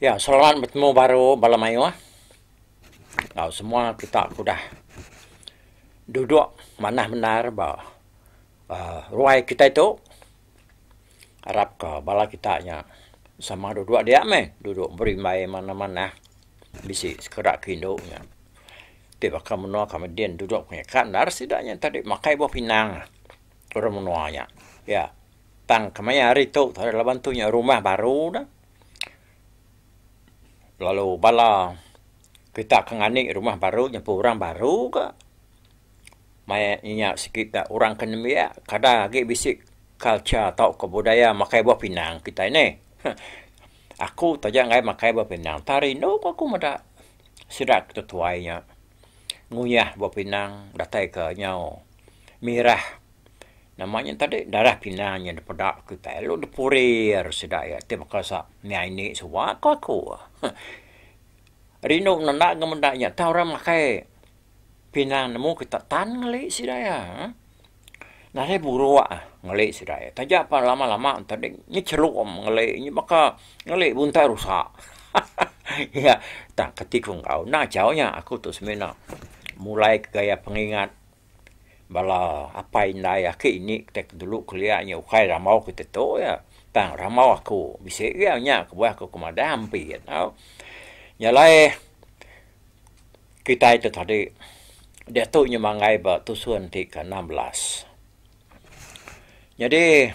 Ya, selamat bertemu baru bala mayuh. Enggau semua kita ke udah duduk manah bendar ba uhh ruai kitai tu. Arapka bala kita nya sama duduk dia meh duduk berimbai manah-manah bisi sekeda ke indu nya. Ti baka menua kami din duduk nya kan enda ari sida nya tadi makai buah pinang orang menua nya. Iya tang kemaya hari tu ari laban tu nya rumah baru dah lalu bala kita ke ngani rumah baru nyampu orang baru ka. Maya nya sekeda orang ke nembiak kada agi bisi culture tauka budaya makai buah pinang kitai nih. Aku taja enggai makai buah pinang tang rindu pun aku meda sida ke tetuai nya nguyah buah pinang datai ke nyau mirah nama nya tadi darah pinang nya dipeda kitai lalu dipurir sida iya ti baka sa nya indi suwa ko aku. Rindu menda ke menda nya tang orang makai. Pinang nemu ke tak tan ngeli sida iya. Nadai buruk ngeli sida iya. Taja pan lama-lama ento deh nyechelum ngeli nya baka ngeli buntai rusa. Iya tang ke ti ku enggau enda chau nya aku tu semina mulai ke gaya pengingat bala apai indai aki indi kita ke dulu kelia nya ukai rambau kita tu iya tang rambau aku bisi iya nya ke buah aku ke madah ampi iya tau. Nya alai. kitai tu tadi. Diatu inya manggai ba tusun ti ke enam belas. Nyadi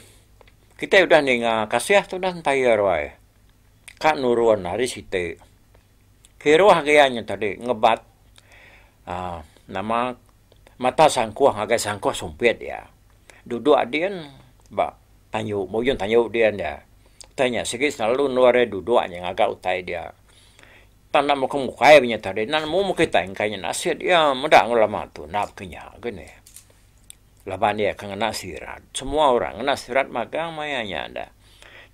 kitai udah ninga kasih tu udah entair wai. Ka nurun ari siti. Kiruh agi iya nya tadi ngebat aaa nama mata sangkuh ngagai sangkuh sumpit iya. Duduk adin ba tanyu ba ujung tanyu din iya. Utai nya sigi selalu endur iya duduk aja ngaga utai dia. Enda enda muka mukai ba nya tadi enda nemu muka kitai engkai nya nasit iya meda enggau lama tu enda baka nya agei neh. Laban iya ke ngena sirat semua orang ngena sirat magang maya nya dah.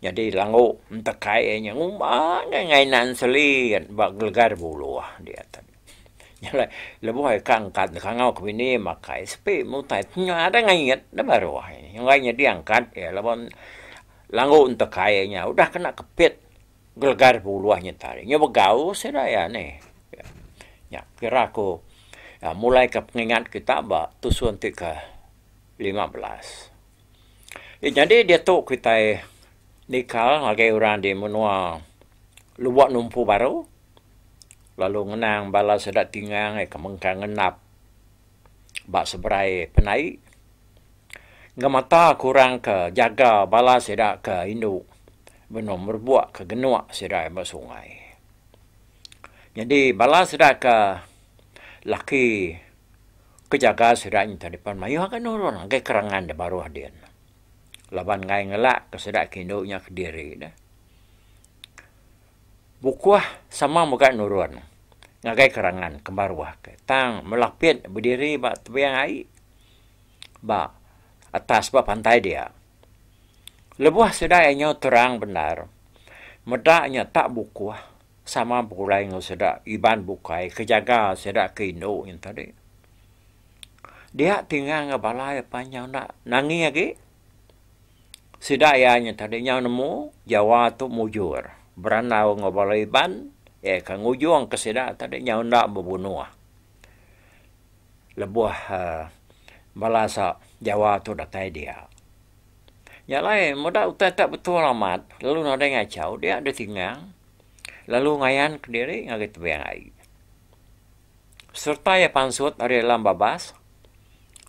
Nyadi langgu entekai iya nya ngumba angai ngainan selit ba gelega da buluh dia tu. Nya alai lebuh iya ka angkat deka ngau ke bini makai sepi meh utai ti nya ada ngait da baruh ai. Enggai nyadi angkat iya laban langgu entekai iya nya udah kena kepit. Gelegar ke uluh nyental iya. Nya begau sida iya nih. Nya kira ku mulaika pengingat kita ba tusun ti ke lima belas. Ti nyadi diatu kitai nikal ngagai orang di menua Lubok Numpu Baru lalu ngenang bala sida tinga ngagai ke mengkang ngendap ba seberai penai. Ngemata kurang ke jaga bala sida ke indu benung merebok ke genok sida ba sungai. Nyadi bala sida ke laki ke jaga sida nyadi dipan mayuh agei nulung agei kerangan da baruh din. Laban enggai ngelak ke sida ke indu nya kediri ne bukuh sama mega nulung ngagai kerangan ke baruh ke tang melapit bediri ba tebing ai. ba atas ba pantai dia. Lebuh sida iya nyau terang bendar, meda nya tak bukuh sama begulai enggau sida Iban bukai ke jaga sida ke indu nya tadi. Dia tinggal enggau bala iya pan nyau enda nangi agi. Sida iya nya tadi nyau nemu Jawa tu mujur berandau enggau bala Iban iya ke ngujungka sida tadi nyau enda bebunuh. Lebuh bala sa Jawa tu datai dia. Nya alai meda utai tak betul amat lalu nadai ngachau dia ditingang lalu ngayan ke diri ngagai tebing ai. Serta iya pansut ari alam babas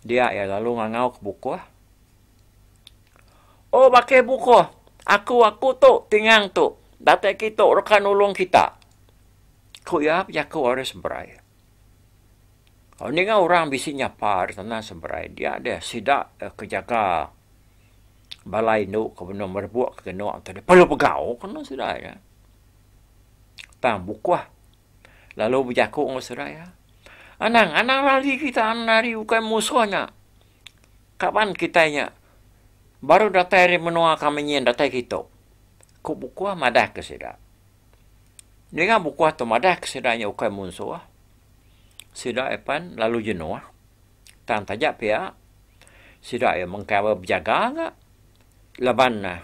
dia iya lalu ngangau ke bukuh Oh baka bukuh aku aku tu tingang tu datai kitu deka nulung kita. Ku iya bejaku ari seberai. Lalu ninga orang bisi nyapa di tanah seberai dia deh sida ke jaga bala indu ke benung merebok ke geno tu deh perlu pegau ke nang sida iya. Tang bukoh lalu bejaku ngan sida iya, Anang, anang lari kita anang lari ukai musoh nya. Kaban kitai nya baru datai ari menoa kami nyin datai kitu. Ku bukoh madah ke sida. Ninga bukuh tu madahka sida nya ukai munsuh, sida iya pan lalu jenuh. Tang taja pia, sida iya mengkang bala bejaga ga laban ne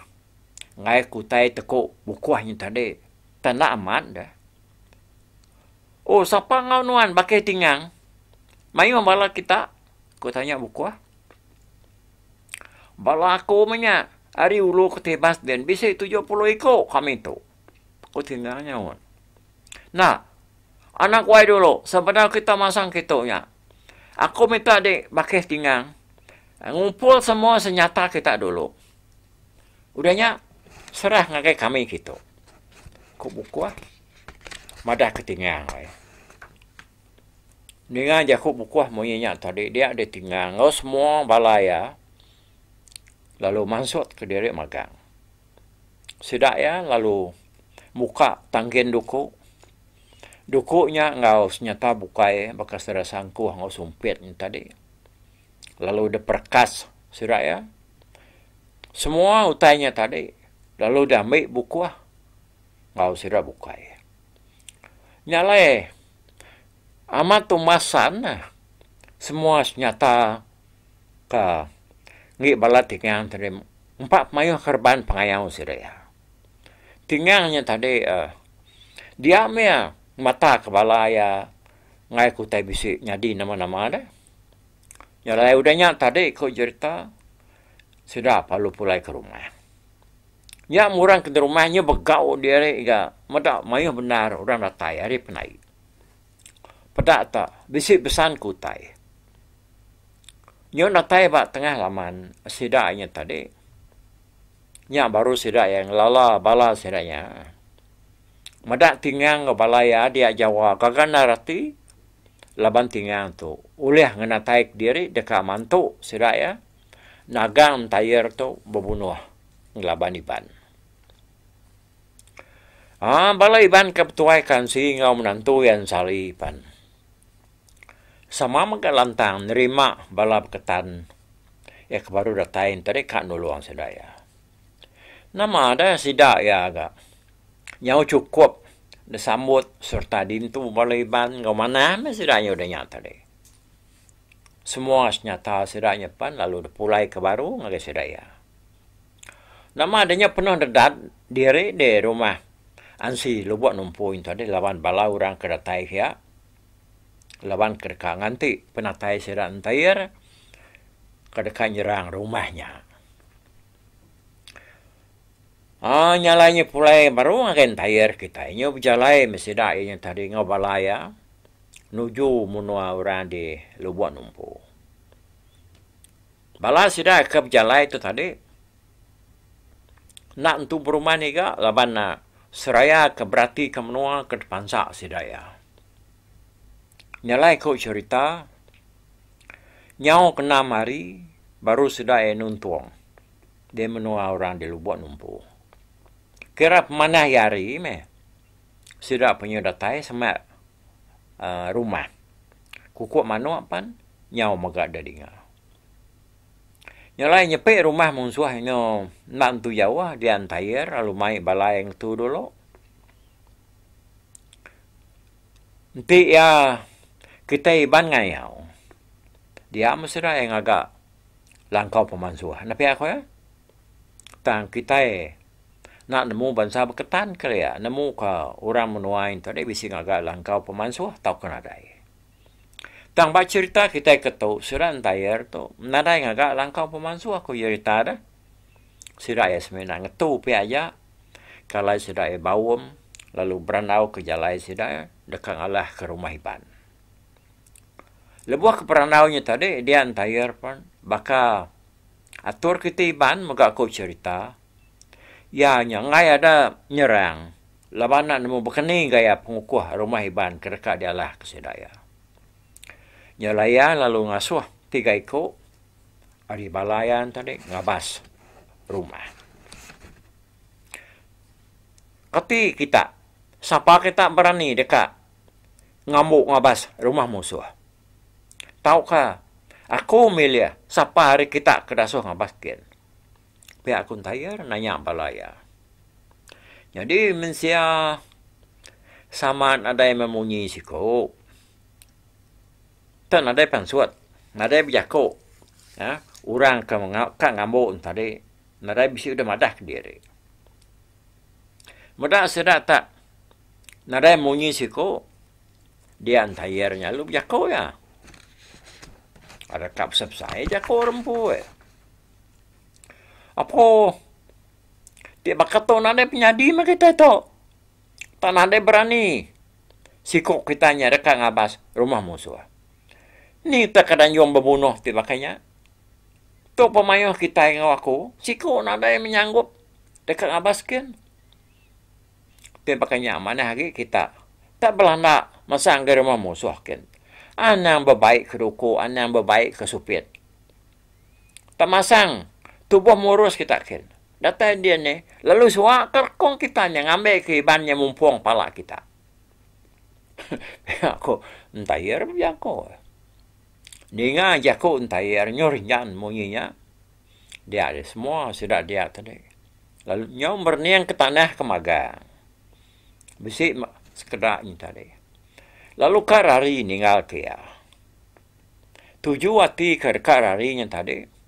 ngaik utai teku bukuh nya tadi. Tang enda amat deh. Oh sapa enggau nuan baka iya tingang? Mayuh bala kita? Ku tanya bukuh. Bala aku meh nya ari ulu ke tibas din bisi tujuh puluh iku kami tu, ku Tinga nyaut. Enda. Anak wai dulu sebedau kita masang kitu nya. Aku minta di bakih Tinga ngumpul semua senyata kita dulu. Udah nya serah ngagai kami kitu, ku Bukuh madah ke Tinga ai. Ninga jaku bukuh munyi nya tadi dia ditinga enggau semua bala iya lalu mansutka diri magang. Sida iya lalu muka tangkin duku. Duku nya enggau senyata bukai baka sida sangkuh enggau sumpit nya tadi lalu diperekas sida iya. Semua utai nya tadi lalu diambi bukuh enggau sida bukai. Nya alai amat tu masan neh semua senyata ke enggi bala tingang tu dih empa mayuh ke reban pengayau sida iya. Tingang nya tadi dia mih matak bala iya ngagai ke utai bisi nyadi nama-nama deh. Nya alai udah nya tadi ku jerita sida lalu pulai ke rumah. Nya murang ke ngerumah nya begau diri ga meda mayuh bendar orang datai ari penai. Peda ta bisi besan ke utai. Nyau datai ba tengah laman sida nya tadi. Nya baru sida iya ngelala bala sida nya. Meda tingang enggau bala iya dia Jawa gaga endar ati laban tingang tu ulih ngenataika diri deka mantu sida iya. nagang mentair tu bebunuh ngelaban Iban. Haa bala Iban ke betuaika ensi enggau menantu iya Ensali pan sama mega lantang nerima bala beketan iya ke baru datai enti deka nulung sida iya. Nama deh sida iya ga nyau chukup disambut sereta dintu bala Iban enggau manah meh sida nya udah nya tadi. Semua senyata sida nyepan lalu depulai ke baru ngagai sida iya. Nama deh nya penuh dedat diri di rumah Ansi lubok numpui ento deh laban bala orang ke datai pia laban ke deka nganti penatai sida entair ke deka nyerang rumah nya. Haa nya alai nya pulai baru ngagai entire kitai nyu bejalai meh sida iya nya tadi enggau bala iya nuju menua orang di Lubok Numpu. Bala sida ke bejalai tu tadi enda entu berumah niga laban seraya ke beratika menua ke dipansa sida iya. Nya alai ku cherita nyau ke enam hari baru sida iya nuntung. di menua orang di lubok numpu. Kira pemanah iya hari meh sida penyu datai semak aaa rumah kuku manok pan nyau mega da dinga. Nya alai nyepi rumah munsuh engo enda entu jauh di Antair lalu mai balai ngetu dulu. Enti iya kitai Iban ngayau dia meh sida iya ngaga. langkau pemansuh enda pia ku iya. Tang kitai enda nemu bansa beketan kali iya, nemuka orang menua ain tu deh bisi ngagai langkau pemansuh tauka nadai. Tang ba cherita kitai ke tu, sida entayer tu nadai ngagai langkau pemansuh ku cherita deh. Sida iya semina ngetu pia aja kalai sida iya baum lalu berandauka jalai sida deka ngalahka rumah Iban. Lebuh ke perandau nya tadi dia entair pen baka atur kiti iban mega aku cherita iya nya enggai ada nyerang laban enda nemu bekeni gaya pengukuh rumah iban ke deka dialah ke sida iya. Nya alai iya lalu ngasuh tiga iku ari bala iya tadi ngabas rumah. Kati kita sapa kita berani deka Ngambu ngabas rumah musuh. Tauka aku milih sapa ari kita ke dasuh ngabas kin. Pia aku ntayer nanya bala iya. Nyadi mensia sama nadai memunyi siku. Tu nadai pansut, nadai bejaku orang ke ngambu tadi nadai bisi udah madah kediri. Meda sida tak nadai munyi siku, dia entayer nya lalu bejaku iya. Adaka besai-besai jaku orang empu oi. Apo ti baka tu nadai penyadi meh kitai tu. Tak nadai berani siku kitai nya deka ngabas rumah musuh. Ni tah keadaan anjung bebunuh ti baka nya. Tu pemayoh kitai enggau aku, siku nadai menyanggup. deka ngabas skin. Tapi baka nya manah agi kita ta belanda masang anggau rumah musuh kin. Anang bebai ke duku, anang bebai ke supit. Ta masang tubuh murus kita kin. Datai dia nih lalu suwa ke rekong kita nya ngambi ke iban nya mumpong pala kita. Pia ku entair bejaku. Ninga jaku entair nyuh rinjan munyi nya. Dia aja semua sida dia tadi. Lalu nyau merening ke tanah ke magang. Bisi sekeda nyi tadi. Lalu ka rari ninggal ke iya. Tuju ati ke deka rari nyen tadi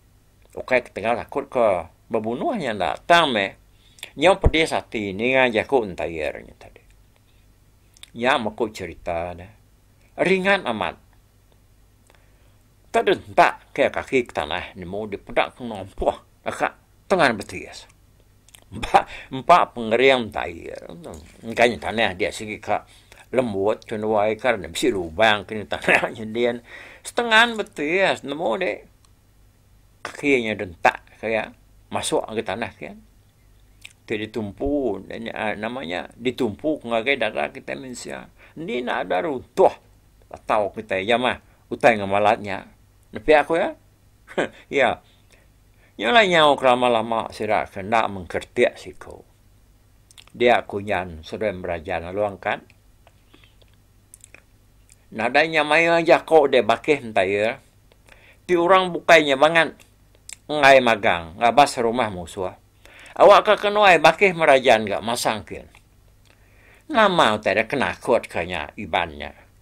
ukai ketegal takut ke bebunuh nya enda tang meh nyau pedis ati ninga jaku entair nya tadi. Nya meku cherita ne ringan amat. Tau deh entak ke kaki ke tanah nemu dipeda ke ngelompoh deka tengan betis. Ba empa pengering tai enggai tanah dia sigi ka lembut ke nuai ka ne bisi lubang ke tanah nyendin setengan betis nemu de kaki nya deh entak ke iya masuk ke tanah ke iya ti ditumpu nama nya ditumpu ngagai dara kitai mensia. Indi enda ada runtuh tau kitai iya mah. Utai enggau malat nya. Nepia ku iya. Iya. Nya alai nyau ke lama lama sida ke enda mengkertik siku. Dia ku Jan seduai Merajan lalu angkat. Nadai nya maia jako deh bakih enta iya. Ti orang bukai nya bangat enggai magang ngabas rumah musuh. Awak ka ke nuai bakih Merajan ga masang kin. Nama utai dia ke nakut ka nya Iban nya.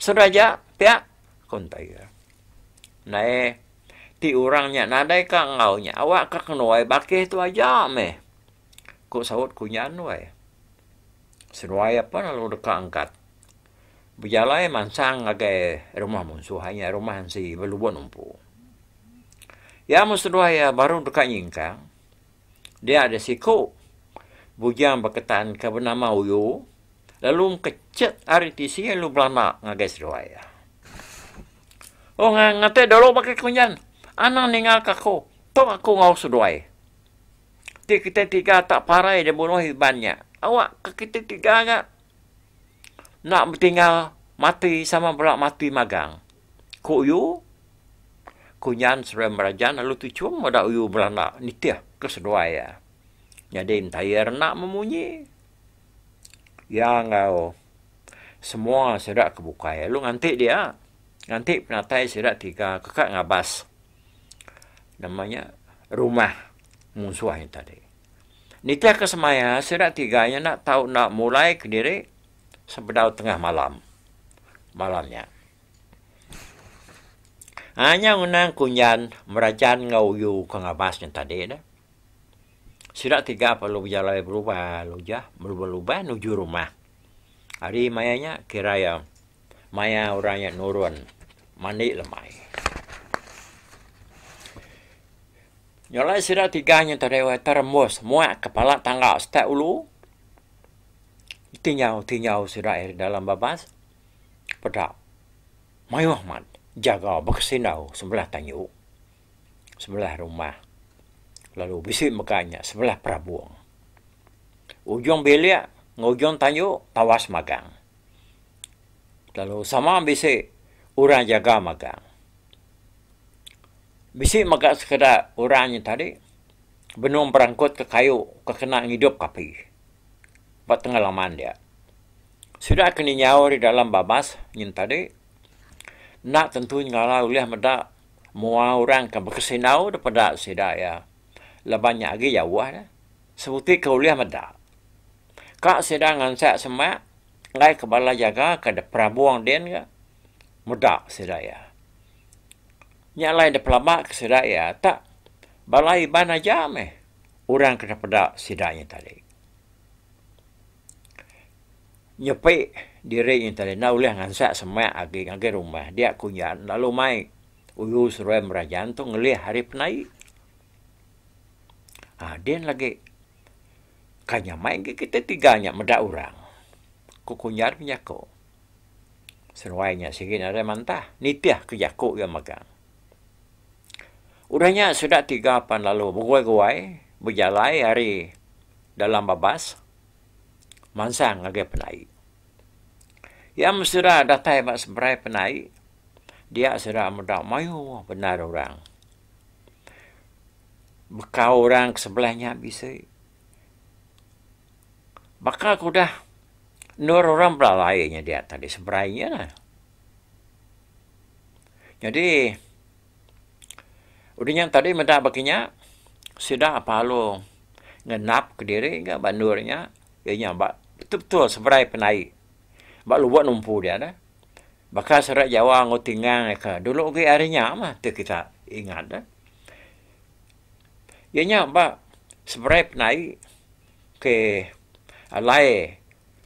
Sedaja pia, ku Entai Ger. Ndai ti orang nya nadai ka enggau nya awak ka kenuai bakih tu aja meh, ku saut Kunya Nuai. Seduai ape lalu deka angkat bejalai mansang ngagai rumah munsuh iya rumah ensi Belubon Empu. Iya meh seduai iya baru deka nyingkang. Dia ada siku bujang beketan ke benama Uyu lalu mekechet ari tisi lalu belama ngagai seduai iya. Oh ngate dulu baka kunyan, anang ningalka aku, tok aku enggau seduai. Ti kitai tiga tak parai dibunuh Iban nya. Awakka kitai tiga ga enda betinggal mati sama bala mati magang. Ku uyu, kunyan serem berajan lalu tu chum meda uyu belanda nitih ke seduai iya. Nyadi Metair enda memunyi. Iya enggau semua sida ke bukai lalu nganti dia, nganti penatai sida tiga ke ka ngabas nama nya rumah munsuh nya tadi. Nitih ke semaya sida tiga nya enda tau enda mulai kediri sebedau tengah malam malam nya. Ai nya ngenang kunjan Merajan enggau Uyu ke ngabas nya tadi dah. Sida tiga perlu bejalai berubah lujah belubah-lubah nuju rumah. Hari maya nya kira iya maya orang nya nurun mandi lemai. Nya alai sida tiga nya tadi weh terembus muak kepala tangga step ulu ditinjau-tinjau sida ari dalam babas peda mayuh amat jaga bekesindau sebelah tanyu sebelah rumah lalu bisi mega nya sebelah perabung. Ujung bilik enggau ujung tanyu tawas magang. Lalu sama bisi orang jaga magang. Bisi mega sekeda orang nya tadi benung berangkutka kayu ke kena ngidupka api ba tengah laman dia. Sida ke ninyau ari dalam babas nyin tadi enda tentu nyengala ulih meda mua orang ke bekesinau daripada sida iya laban nya agi jauh ne. Sebuti ke ulih meda. Ka sida ngansak semak enggai ke bala jaga ke de perabong din ga meda sida iya. Nya alai de pelaba ke sida iya tak bala Iban aja meh orang ke de peda sida nya tadi. Nyepi diri nya tadi enda ulih ngansak semak agi ngagai rumah dia ku nya lalu mai uyu seruai merajan tu ngelih ari penai. Um din lagi, kai nyamai ngi kita tiga nya meda urang. Ku kunyah nya jaku. Seruai nya sigi nadai mantah, nitih ke jaku iya megang. Udah nya sida tiga pan lalu beguai-guai, bejalai ari dalam babas mansang ngagai penai. Iya men sida datai ba seberai penai, dia sida meda mayuh bendar urang. baka orang ke sebelah nya bisi. Baka ke udah endur orang belalai inya dia tadi seberai inya lah. Jadi udah nya tadi meda baka inya sida parlu ngenap ke diri ga ba endur nya iya nya ba betul-betul seberai pandai ba lubok numpu dia dah. Baka serak Jawa enggau Tingang iya ke dulu agi ari nya mah ti kita ingat ne. Iya nya ba seberai penai ke alai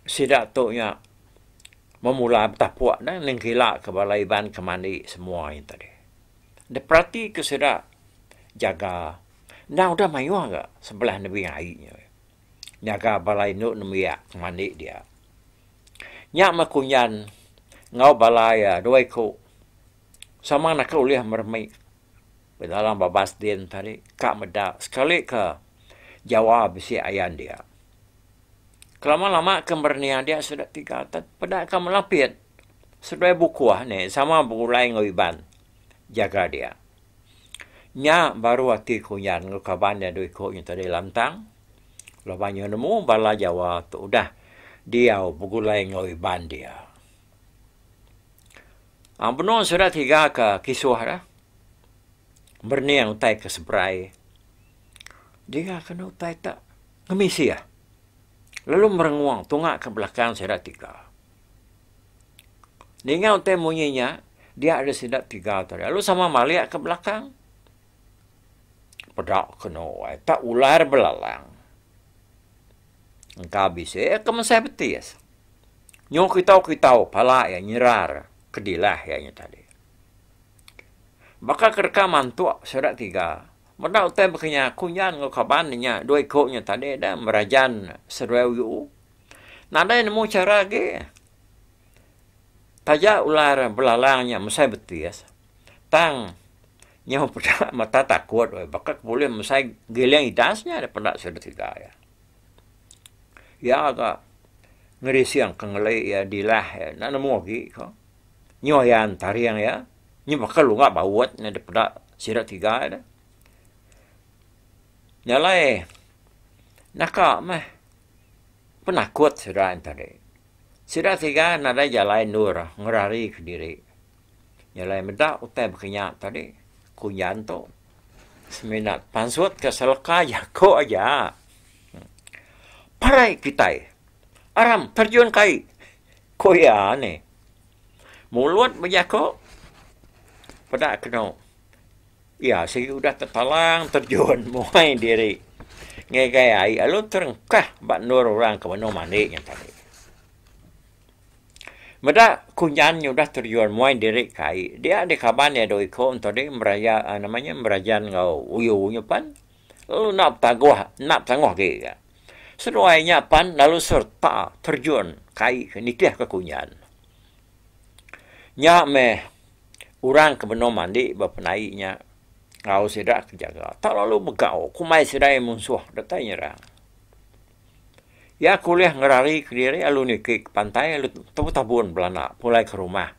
sida tu nya memula betapuk ne nengkila ke bala Iban ke mandi semua ahi enti ade. Diperati ke sida jaga endang udah mayuh ga sebelah nebing ai nya. nyaga bala indu nembiak mandi dia. Nya meh kunyan enggau bala iya dua iku sama naka ulih meremi bedalam babas din tadi ka meda sekali ke jawa bisi ayan dia. Kelama-lama ke merenih dia sida tiga atet peda ka melapit seduai bukuh nih sama begulai enggau Iban jaga dia. Nya baru ati Kunyan enggau kaban iya dua iku nya tadi lantang laban iya nemu bala Jawa tu udah diau begulai enggau Iban dia. Ang benung sida tiga ka kisuh dah merening utai ke seberai dinga kena utai tak ngemisih lalu merengung tunga ka belakang sida tiga. Ninga utai munyi nya, dia ari sida tiga tu ari, lalu sama malik ka belakang. Peda kenu ai, tak ular belalang. Engka bisi iya ke mesai betis. Nyu kitau-kitau pala iya nyerar ke dilah iya nya tadi. Baka ke deka mantuk sida tiga, meda utai baka nya, kunyan enggau kaban inya dua iku nya tadi dah merajan seduai uyu. Nadai nemu chara agi. Taja ular belalang nya mesai betis, tang nyau peda mata takut weh baka ke bulih mesai giling idas nya deh peda sida tiga iya. Iya ga ngerising ke ngeli iya dilah iya enda nemu agi ko. Nyu iya ntaring iya, nyu baka lunga baut nya deh peda sida tiga iya deh. Nya alai naka meh. Penakut sida nya tadi. Sida tiga nadai jalai endur ngerarika diri. Jalai meda utai bakanya tadi, ku Nyan tu semina pansut ke seleka jaku aja. Parai kitai. Aram terjun kai, ku iya nih. Mulut bejaku peda kenu. Iya sigi udah tetalang terjun muai diri ngegai ai lalu terengkah ba endur orang ke benung mandi nya tadi. Meda kunyan nya udah terjun muai diri ke ai, dia deh kaban iya dua iku ento deh meraya nama nya merajan enggau uyu nya pan lalu enda betaguh enda betanguh agi ga. Seduai nya pan lalu sereta terjun ke ai nitihka kunyan. Nya meh Orang ke benung mandi ba penai nya enggau sida ke jaga tak lalu begau kumbai sedaai munsuh deka nyerang. Iya ke ulih ngerari kediri lalu niki ke pantai lalu tebutabun belana pulai ke rumah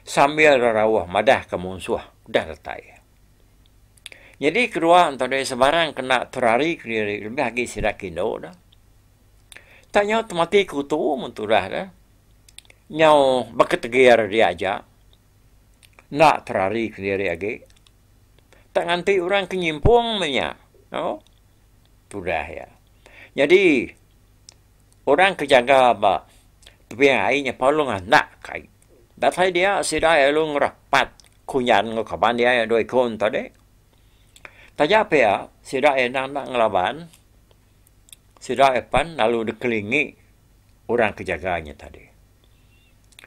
sambil rerauh madahka munsuh udah datai. Nyadi kedua ento deh sebarang ke enda terari kediri lebih agi sida ke indu ne tak nyau temati ke utu men tudah ne. nyau beketegir dia aja, enda terari kediri agi. Tak nganti orang ke nyimpung meh nya. Au? Tudah iya. Nyadi, orang ke jaga ba tebing ai nya parlu nganak ke ai. Datai dia, sida lalu ngerapat kunyan enggau kaban dia yang dua iku ento dih. Taja pia, sida endang enda ngelaban, sida akan lalu dikelingi. orang ke jaga nya tadi.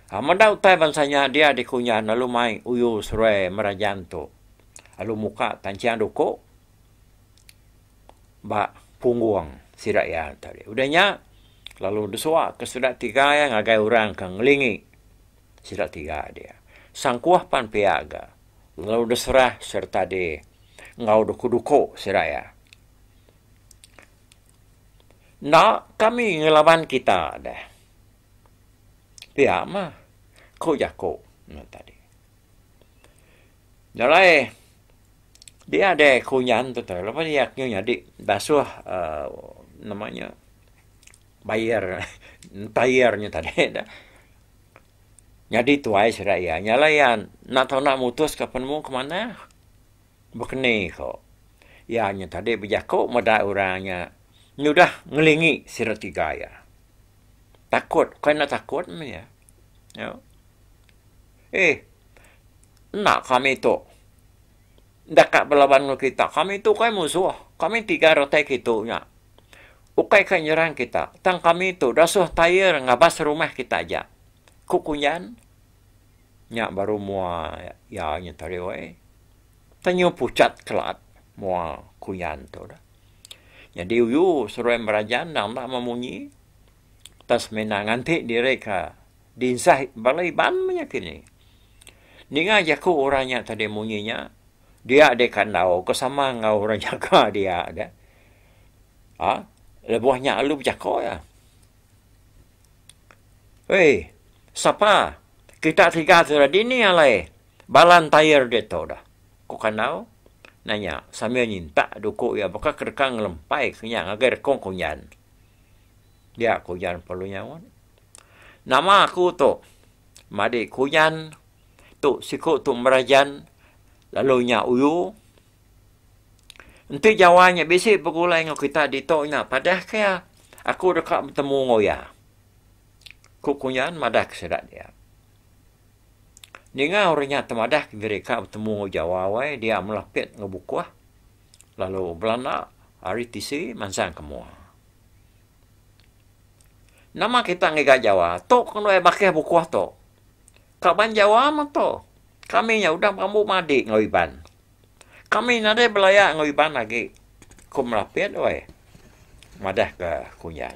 Ha meda utai bansa nya dia dikunyah lalu mai uyu seruai merajan tu lalu muka tanchang duku ba punggung sida iya tadi. Udah nya lalu disua ke sida tiga iya ngagai orang ke ngelingi sida tiga dia. Sangkuh pan pia ga lalu diserah sereta di enggau duku-duku sida iya. Enda kami ngelaban kita deh. Pia mah ku jaku ne tadi. Jalai diade ku nyan tu teh lebuh iya ke nyadi basuh aaa nama nya bayer entayer nya tadi deh nyadi tuai sida iya. Jalai iya enda tau mutuska penemu ke manah. Bekeni ko. Iya nya tadi bejako meda orang nya nyudah ngelingi sida tiga iya. Takut ukai enda takut meh iya. Nya. Eih. Enda kami tu enda ka belaban enggau kita. Kami tu ukai musuh. Kami tiga retai ke tu nya. Ukai ka nyerang kita. Tang kami tu dasuh tair ngabas rumah kita aja. Ku kunyan. Nya baru mua iya nyenterio ai. Tang nyau pucat kelaat mua kuyan tu dah. Nyadi uyu seruai merajan endang enda meh munyi. Tang semina nganti diri ka dinsai bala Iban meh nya kini. Ninga jaku orang nya tadi munyi nya, dia deh ka endaur ke sama enggau orang nyaga dia deh. Aa lebuh nya lalu bejako iya. Oi, sapa? Kita tiga ke ra dini alai bala entayer diatu dah? ku Kandau nanya sambil nyintak duku iya baka ke deka ngelempai ke nya ngagai rekung Kunjan. Dia Kunjan perlu nyaut. Nama aku tu? Madi Kunjan tu siku tu merajan lalu nya uyu. Enti Jawa nya bisi begulai enggau kita ditu nya padah ke iya aku deka betemu enggau iya, ku Kunyan madah ke sida dia. Ninga orang nya temadah ke diri ka betemu enggau Jawa wai dia melapit enggau bukuh lalu belanda ari tisi mansang ke mua. Nama kita ngiga Jawa? Tu ke nuai bakih bukuh tu. Ka banjawa meto kami nya udah berambu madik enggau iban. Kami nadai belaya enggau iban agi ku melapit weh madah ke kunjan.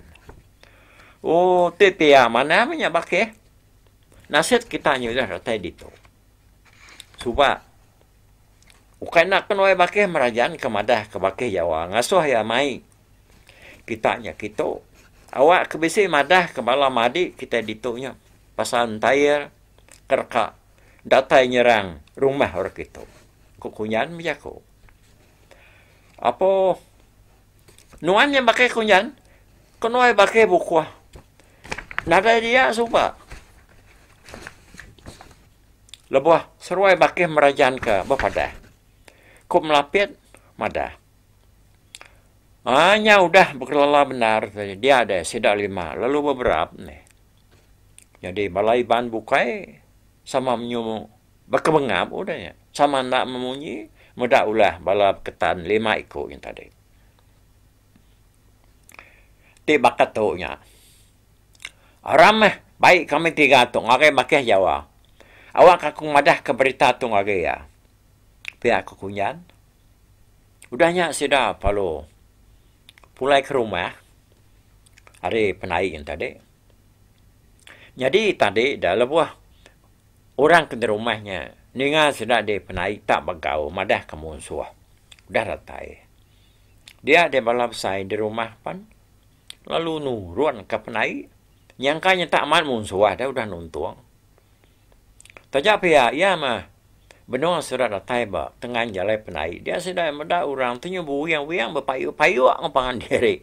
Oh ti pia manah meh nya bakeh. Nasit kita nya udah datai ditu. Suba ukai enda ke nuai bakeh merajan ke madah ke bakeh jawa ngasuh iya mai kita nya kitu awak ke bisi madah ke bala madi kita ditu nya pasal entair ke reka datai nyerang rumah orang kitu ku kunyan meh jaku apo nuan nya baka kunyan ke nuai baka bukuh nadai dia suba lebuh seruai baka merajan ka bepadah ku melapit madah. Aa nya udah bekelala bendar tadi dia deh sida lima lalu beberap meh. Jadi bala Iban bukai sama menyu bekebengap udah nya sama enda memunyi meda ulah bala beketan lima iku nya tadi. Ti baka tu nya aram meh bai kami tiga tu ngagai makeh Jawa. Awakka ku madahka berita tu ngagai iya pia ku Kunjan. Udah nya sida lalu pulai ke rumah ari penaing tadi. Nyadi tadi da lebuh orang ke di rumah nya ninga sida di penaing tak begau madahka munsuh udah datai. Dia di bala besai di rumah pen lalu nurunka penaing nyangka nya tak mat munsuh deh udah nuntong. Taja pia iya mah benung surat datai ba tengan jalai penai dia sida meda orang tu nyu bewiang-wiang bepayuk-payuk enggau pangan diri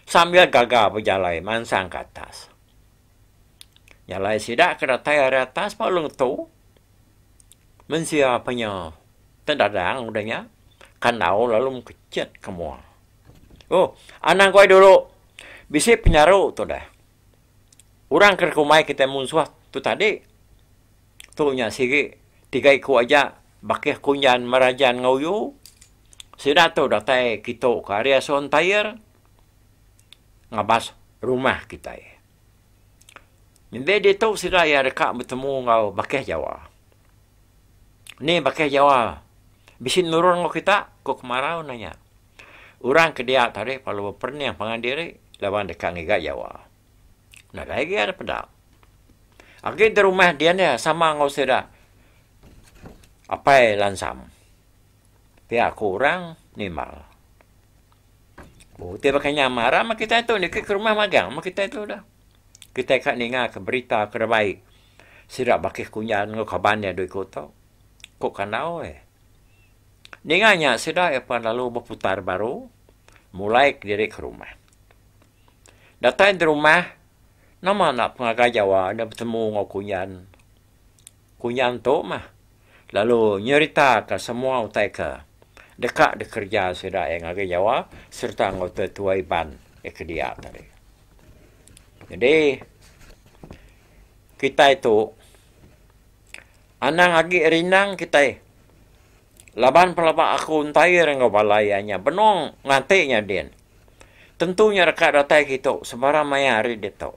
sambil gaga bejalai mansang ke atas. Jalai sida ke datai ari atas ba Long Tu, mensia ape nya tedadang udah nya kandau lalu mekechet ke mua. Oh, anang ku ai dulu bisi penyaru tu deh. Orang ke dikumbai kitai munsuh tu tadi, tu nya sigi tiga iku aja bakih kunjan merajan enggau uyu. Sida tu datai kitu ke ari asu Ontair ngabas rumah kitai. Nembiak ditu sida iya deka betemu enggau bakih Jawa. Ni bakih Jawa bisi nurun enggau kita? ku kemarau nanya. Orang ke dia tadi pelalu beperening pangan diri laban deka ngiga jawa. Nadai agi ari peda. Agi di rumah din iya sama enggau sida Apai Lansam. Pia ku orang Nimbal. Oh, ti baka nya maram meh kitai tu niki ke rumah magang meh kitai tu dah. Kitai ka ninga ke berita ke da baik sida bakih kunyan enggau kaban iya dui ku tu. Ku kandau eh. Ninga nya sida iya pan lalu beputar baru mulai kediri ke rumah. Datai di rumah, nama enda pengagai Jawa enda betemu enggau kunyan. Kunyan tu mah lalu nyeritaka semua utai ke deka dikereja sida iya ngagai Jawa sereta enggau tua-tua Iban iya ke dia tadi. Jadi kitai tu anang agi rindang kitai. Laban pelaba aku entair enggau bala iya nya benung nganti nya din, tentu nya deka datai kitu sebarang maya ari ditu.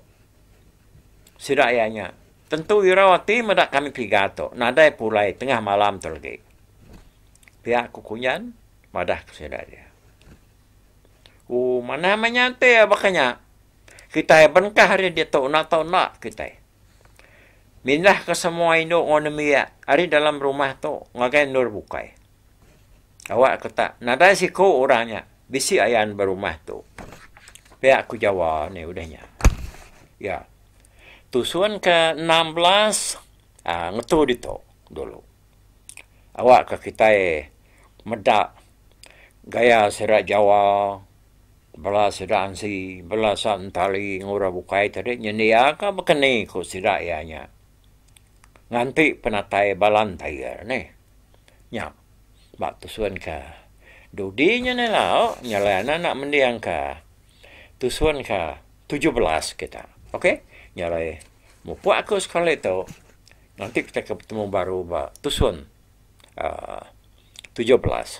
Sida iya nya, tentu irau ati meda kami piga tu nadai pulai tengah malam tu lagi. Pia ku Kunjan madah ke sida iya. Ooh manah meh nya enti iya baka nya. Kitai bengkah ari ditu enda tau enda kitai mindahka semua indu enggau nembiak ari dalam rumah tu ngagai endur bukai. Awakka tak nadai siku orang nya bisi ayan ba rumah tu. Pia aku Jawa ni udah nya. Ya. Tusun ke enam belas aaa ngetu ditu dulu. Awakka kitai meda gaya sida Jawa Bela sida ansi, bela sa entali ngura bukai tadi nyendia ka baka ni ku sida iya nya. Nganti penatai bala entir nih. Nya ba tusun ka dudi nya nih lau nya alai anak enda mending ka tusun ka tujuh belas kita. Ok nya alai mupuk aku sekali tu nganti kita ke betemu baru ba tusun aaa tujuh belas.